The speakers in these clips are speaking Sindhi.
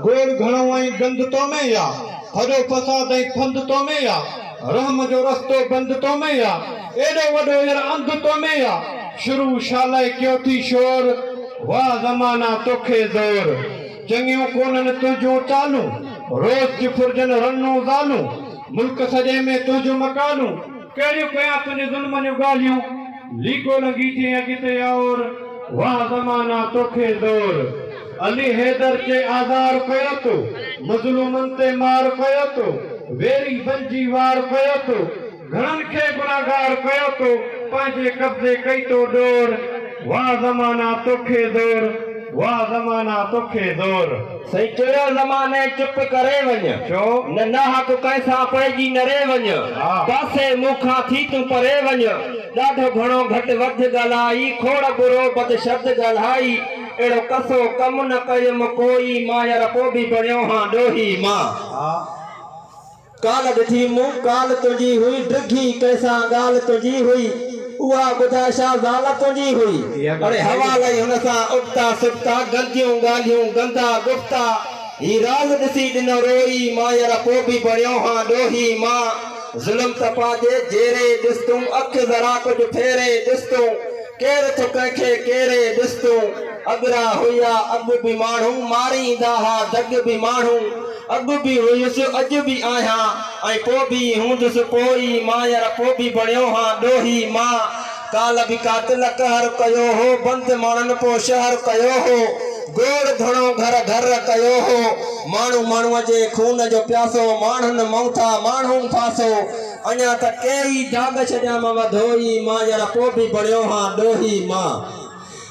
گول گهڻو ۽ گند تو ۾ يا، ڦڏو فساد ۽ ڦند تو ۾ يا، رحم جو رستو بند تو ۾ يا، ايڏو وڏو ير انڌ تو ۾ يا، شروع شالاء ڪيو ٿي شور، واه زمانا توکي زور، چڱيون ڪونهن تنهنجون چالون، روز ٿي ڦرجن رنون زالون، ملڪ سڄي ۾ تنهنجون مقالون، ڪهڙيون ڪيان تنهنجي ظلمن جون ڳالهيون. ليڪو لڳي چئي اڳتي اور، واھ زمانا توکي زور. علي حيدر چئي آزار ڪيو تو، مظلومن تي مار ڪيو تو، ويري بنجي وار ڪيو تو، گهڻن کي گنهگار ڪيو تو، پنهنجي قبضي ڪئي تو ڏور. واھ زمانا توکي زور، واھ زمانا توکي زور. سائين چيو نه ماني چپ ڪري وڃ. ڇو؟ نه نه حق ڪنهن سان پئجي نري وڃ. ها. پاسي مون کان ٿي تون پري وڃ. ڏاڍو گهڻو گهٽ وڌ ڳالهائي کوڙ برو بد شبد ڳالهائي اهڙو ڪسو ڪم نه ڪيم ڪوئي ماير پوء به بڻيو هان ڏوهي مان. ها. ڪالهه ڏٺي مون ڪالهه تنهنجي هئي ڊگهي ڪنهن سان ڳالهه تنهنجي هئي اها ٻڌاء ڇا زال تنهنجي هئي. اڙي هوا لئي هن سان ابتا سبتا گنديون ڳالهيون گندا گفتا هي راز ڏسي ڏنو روئي مان يرا پو به بڻيو هان ڏوهي مان ظلم ته پنهنجي جيري ڏس تون اک ذرا ڪجهه ڦيري ڏس تون ڪير ٿو ڪنهن کي ڪيري ڏس تون اڳرا هئا اڳ به ماڻهو ماريندا ها دڳ به ماڻهو اڳ به هيس، اڄ به آهيان ۽ پوء به ئي هوندس. پوء ئي مان يار پوء به بڻيو هان ڏوهي مان. ڪالهه به قاتل قهر ڪيو هو، بند ماڻهن پوء شهر ڪيو هو. گوڙ گهڻو گهر گهر ڪيو هو. ماڻهو ماڻهوء جي خون جو پياسو، ماڻهن مئوٿا ماڻهو ڦاسو. اڃا ته ڪيئي داغ ڇڏيامانء ڌوئي مان يار پوء به بڻيو هان ڏوهي مان.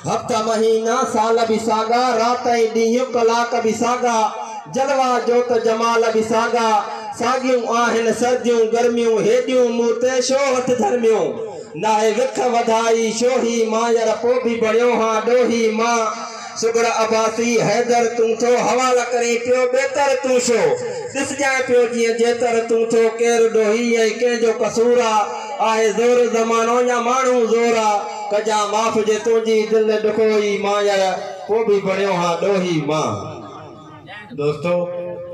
هفتا مهينا سال به ساڳا، رات ۽ ڏينهن ڪلاڪ به ساڳا، جلوا جوت جمال به ساڳا، ساڳيون آهن سرديون گرميون، هيڏيون مون تي شو هٿ ڌرميون، ناهي وک وڌائي شوهي مان يار پو به بڻيو هان ڏوهي مان، سگهڙ عباسي حيدر تون ٿو حوال ڪرين پيو ٻيتر تون شو ڏسجانء پيو جيئن جيتر تون ٿو ڪير ڏوهي ۽ ڪنهن جو قصور آ، آهي زور زمانو يا ماڻهو زور آ. ڪجان معاف جي تنهنجي دل ڏکوئي مان يار پوء به بڻيو هان ڏوهي مان دوستو.